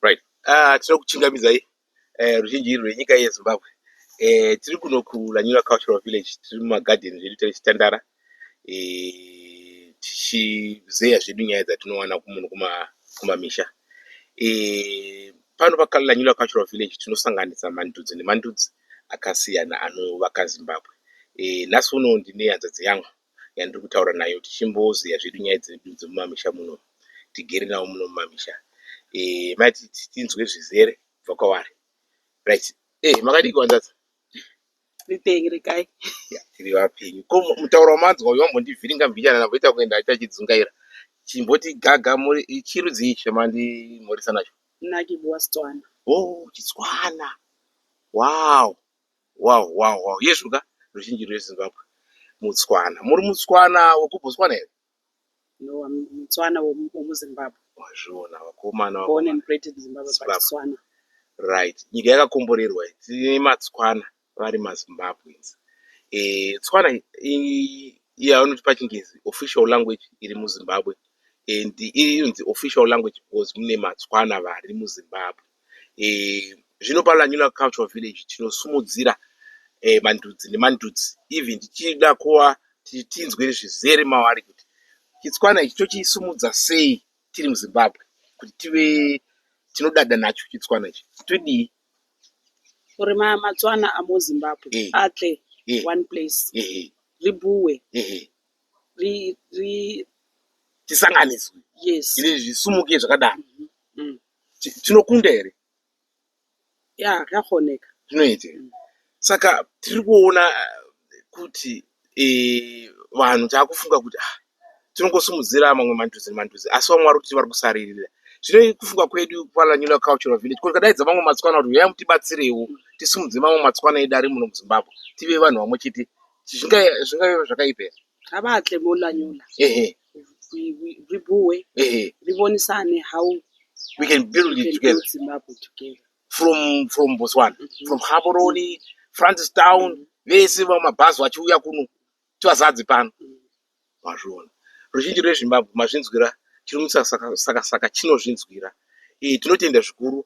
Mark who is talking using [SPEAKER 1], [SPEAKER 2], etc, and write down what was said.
[SPEAKER 1] right uh, tinoda kuchingamidzai uh, ruzhinji rwenyika yezimbabwe uh, tiri kuno kulanyura cultural village tiri mumagadhen zvedu tichitandara uh, tichizeya zvedu nyaya dzatinowana kumunhu kumamisha uh, pano pakalanyura cultural village tinosanganisa mandudzi nemandudzi akasiyana anovaka zimbabwe uh, nhasi uno ndine hanzvadzi yangu uh, yandiri kutaura nayo tichimbozeya zvedu nyaya dzedu dzemumamisha muno tigere navo muno mumamisha eh, mai tinzwe zvizere kubva kwavari right eh, makadii kuvanzadza ripenyu rekai tiri vapenyu ko mutauro wamanzwa uyo wambondivhiringa mbichana namboita kuenda aita achidzungaira chimboti gaga muri chirudzii chamandimhoresa nacho nakibua stswana o oh, chitswana wow Wow wow wow yezvo ka ruzhinji rweZimbabwe mutswana muri mutswana wekuBotswana here? No I'm mutswana wemuZimbabwe. Wazviona vakomana Born and bred in Zimbabwe but Tswana. Right nyika yakakomborerwa iyi tine matswana vari maZimbabweans. Eh tswana yavanoti pachingezi official language iri muZimbabwe and inonzi official language because mune matswana vari muZimbabwe. Eh, zvino paLanyula Cultural Village tinosumudzira eh, mandudzi nemandudzi even tichida kuva tinzwe zvizere mavari kuti chitswana ichi tochisimudza sei tiri muzimbabwe kuti tive tinodada nacho chitswana ichi todii uri matswana amuzimbabwe eh. atle eh. one place eh. ribuwe tisanganiswe yes. ine zvisumuke zvakadaro mm -hmm. mm. Ti- tinokunda here ya zvakaoneka zvinoita here? saka tiri kuona eh, kuti eh, vanhu taakufunga kuti ah, tinongosimudzira mamwe mandudzi nemandudzi asi vamwe vari kuti vari kusaririra zvino kufunga kwedu kwalanula cultural village kuti kadaidza mamwe matsikwana kuti huyai mutibatsirewo tisimudze mamwe matsikwana edu ari muno muzimbabwe tive vanhu vamwe chete zvinga- zvingave zvakaipa here Ngavaake molanyola. Ehe. Ribuwe. Ehe. Ribonisane how we can build it together. Zimbabwe together. From from Botswana, mm -hmm. from Gaborone, mm -hmm. Francis Town, mm -hmm. vese vamabhazi vachiuya kuno tivazadze pano. Mm -hmm. Mazviona. Ruzhinji rweZimbabwe mazvinzwira chiri musaka saka saka chinozvinzwira. Eh tinotenda zvikuru